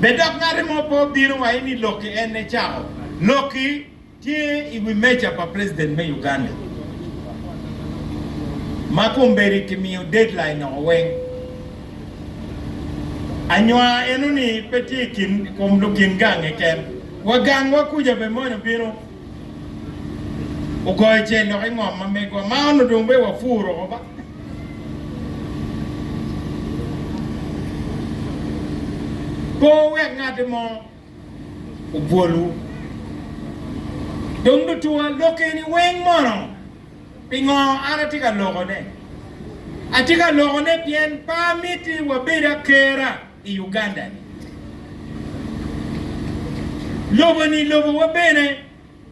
Bed dok ngati mo pe obino wa ini lokki en ne cako lokki tye i wi meja pa president me Uganda ma kombedi ki miyo deadline noko weng. Anywa eno ni pe tye i kin kom lukin gang keken wa gang wa kuca be mony obino. Ogoyo cel lok i ngom ma megwa ma onongo dong bene wapuro oko ba. Pe wuwek ngati mo obwolwu. Dong lutuwa, lok eni weng mono pingo an atye ka lokone? Atye ka lokone pien pe amiti wabed akera. i Uganda ni lobo ni lobo wa bene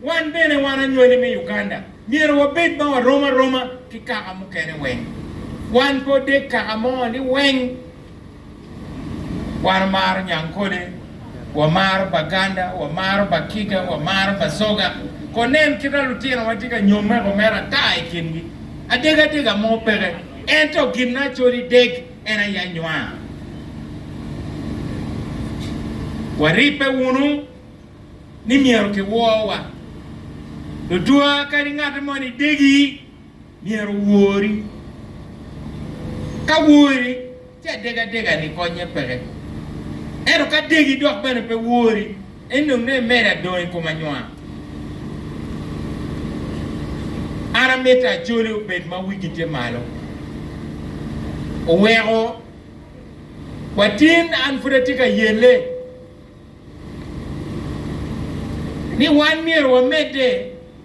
wan bene wan anywali me Uganda myero wa bed ma wa rom aroma ki kaka mukene weng wan pe odeg kaka mo ni weng wan wamaro Nyankole wa maro Baganda wa maro Bakiga wa maro Basoga ko nen kita lutino wa tye ka nyome ko mere ata i kin gi adeg adega mo peke ento gin na coli deg en aye anywa. Waribbe wunu ni myero kiworwa. Tutwa kadi ngat mo ni degi myero owori. Ka wori, ci adega dega-ni konnye peke. Ento ka degi dok bene pe wori, Enok ne mere adong i kom anywa. An amito Acholi obed ma wigi tye malo. Oweko watin an pud atye ka yelle ni wan myero wamedde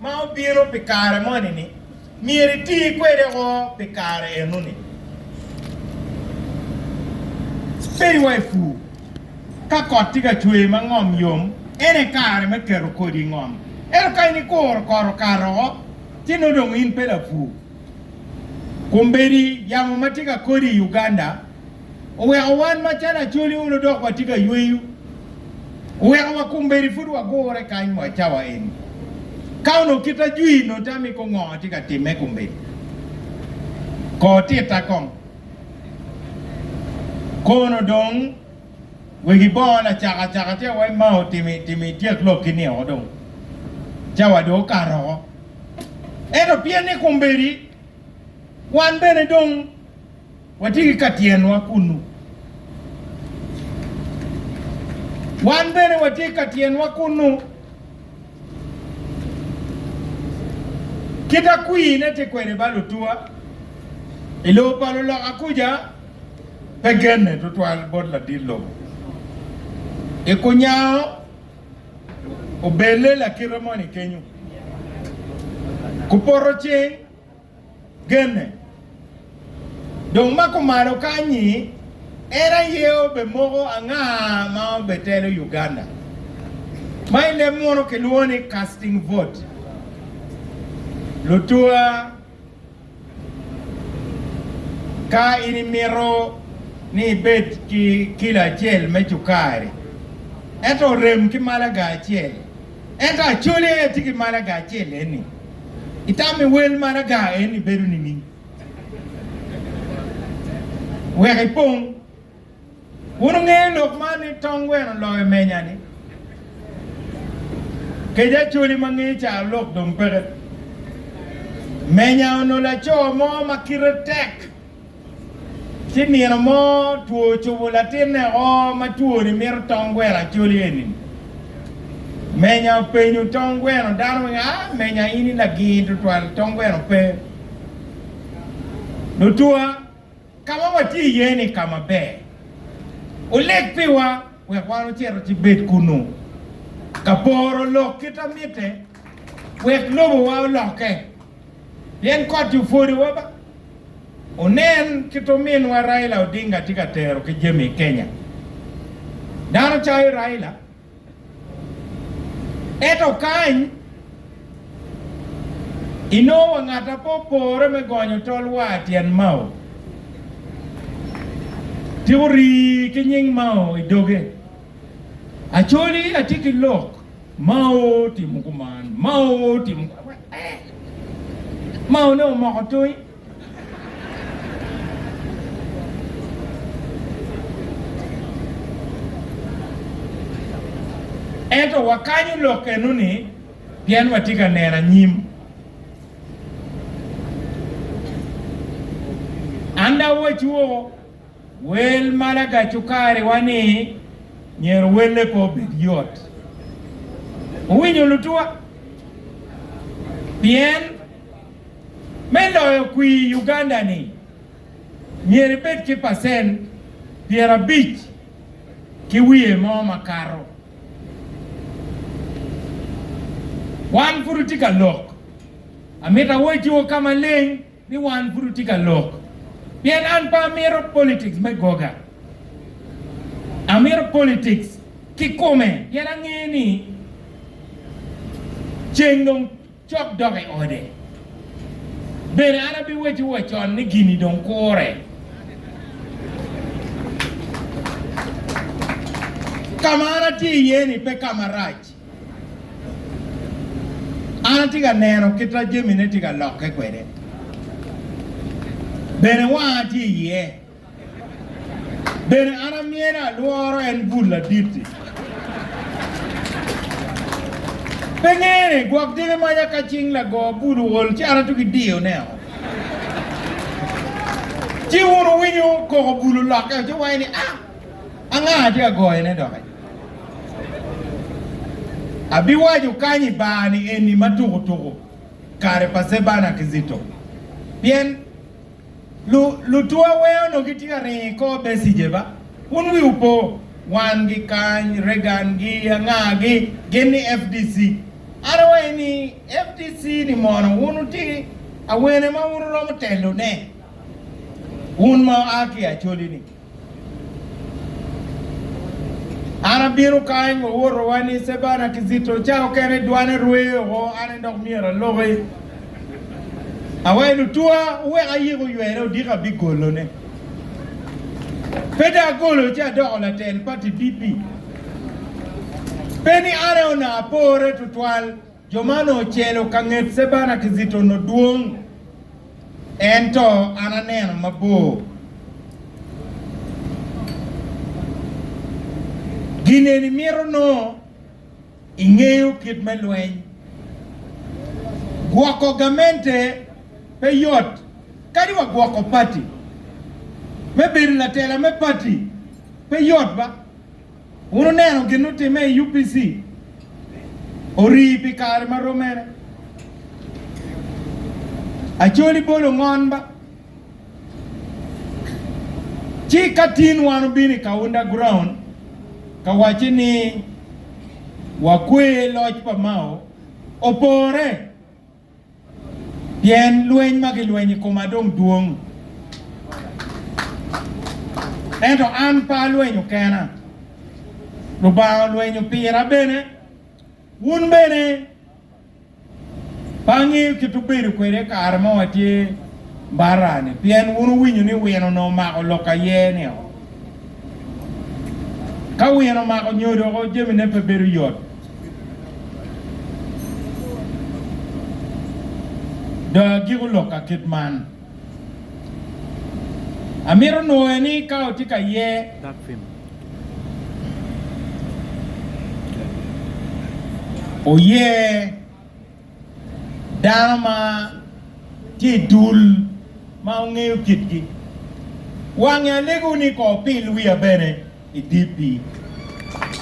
ma obino pi kare moni-ni, myero iti kwede woko pi kare enoni. Peri wa i pur. Ka kot tye ka cwer ma ngom yom, en aye kare me keto kodi i ngom. Ento ka in ikuro kot okato woko, ci nongo dong in pe lapur. Kombeddi yamo ma tye ka kodi i Uganda, oweko wan macalo Acholi olo dok watye ka yweyo. Oweko wa kombeddi pud wagure kany wa cawa eni. Ka onongo kita jwir nongo tam i kom ngo atye ka timme kombeddi. Kor tita kong. Kono dong wek ibonga lacaka caka tye wa ima otimi timi ityek lok ki niko dong. Cawa dong okato oko. Ento pien ni kombeddi wan bene dong. Watye ki ka tyenwa kunnu. Wan bene watye ki ka tyenwa kunnu. Kit akwine tye kwede ba lutuwa i lobo pa luloka kuca pe genne tutwal bot ladit lobo. I kunyango obelle lakite moni kenyu, kupoto cing genne. Dong ma kumalo kany-nyi, en aye obemoko anga ma obetelo Uganda, ma i leb muno kilwongo ni casting vote. Lutua, ka in imito ni ibed ki kilo acel me cukari, ento orem ki malaga acel, Ento acole tye ki maraga acel eni, itame wel maraga eni bedo nining? Wek ipong. Wun wunge lok man ni tong weno loyo menya-ni. Kec acoli ma nge caro lok dong peke. Menya onolo laco mo ma kite tek. Ci nino mo two ocubo latinne o ma twoni mito tong gweno acoli eni. Menya openyo tong gweno, Dano weng a? Menya in i lagir tutwal? Tong gweno pe. Lutwa, ka ma watye iye ni ka maber. Wuleg piwa wek wan wucit wutibed kunnu. Ka poro olok kit a mitte, wek lobowa olokke. Pien kot-ti opwodowa ba. Wunen kit ominwa Raila Odinga tye ka tero ki jami i Kenya. Dano cayo Raila, eto kany inongo wa ngat a pe opore me gonyo tol waa tyen Mao. Tiko rii ki nying Mao i doge. Acholi atye ki lok. Mao timo kuman, Mao timo kuman. Eh! Mao ne omoko toyi. Ento wakanyo lok eno-ni pien watye ka neno anyim. An dawoc woko Wel ma lagac cukariwa ni myero welle pe obed yot. Wuwinyo lutuwa? Pien me loyo kwir i Uganda-ni, myero ibed ki pacent pyerabic ki wiye mo makato. Wan pud watye ka lok. Amito awacciwu ka maleng. ni wan pud wutye ka lok pien an pe amito politics me goga, amito politics kikome pien angeyo ni ceng dong cok dok i ode. Bene an abiwecciwu wa con ni gini dong kure. Ka ma an atye iye ni pe ka marac. An atye ka neno kit ma jamine tye ka lokke kwede, bene wanga tye iye. Bene an amyero alworo en bul ladit-ti? Pe ngene, gwok dyegi maca ka cing lago bul ool ci an atugi diyoneo. Ci wun wuwinyo koko bul olokke-o ci wuwaco ni, A! Anga atye ka goyone doki? Abiwaco kany i bar ni eni ma tuku tuku kare pa Cebana ki Zito. Pien lu, lutwa wee onongo gitye ka ringo i kor Becije ba? Wun wiwu po? Wangi kany, Reagan gi anga gi, gin ni FDC. An awaci ni, FDC ni mono wun wuti awene ma wun wuromo telo ne? Wun ma wua ki Acholi ni? An abino ka en wa woto wa ni Cebana ki Cito ca okene dwane rwe oko an en dok myero aloki awa i lutwa owek ayik oywene odiko abigolo ne pe dong agolo ci adoko latel pati PP pe ni an aye onongo apore tutwal Jo ma onongo ocelo ka nget Cebana ki Zita onongo dwong, ento an aneno mabor. Gin eni mito nongo ingeyo kit me lweny. Gwoko gamente pe yot. Kadi wa gwoko pati, me bedo latela me pati pe yot ba. Wun wuneno gin otimme i UPC orii pi kare ma rom mene. Acholi bolo ngon ba. Ci ka tin wan obino i Kaunda ground ka wacce ni wakwe loc pa Mao opore. pien lweny ma gilweny i koma dong dwong, ento an pe alwenyo kena, Lubanga olwenyo pira bene. Wun bene pe angeyo kit wubedo kwede i kare ma watye Mbarra-ni, pien wun wuwinyo ni wino onongo omako lok aye-ni oo. Ka wino omako nyo doko jamine pe bedo yot. Dong agiko lok ka kit man. Amito nwoye ni ka watye ka ye oye dano ma tye i dul ma ongeyo kitgi. Wange alego ni kor pil wiya bene i DP.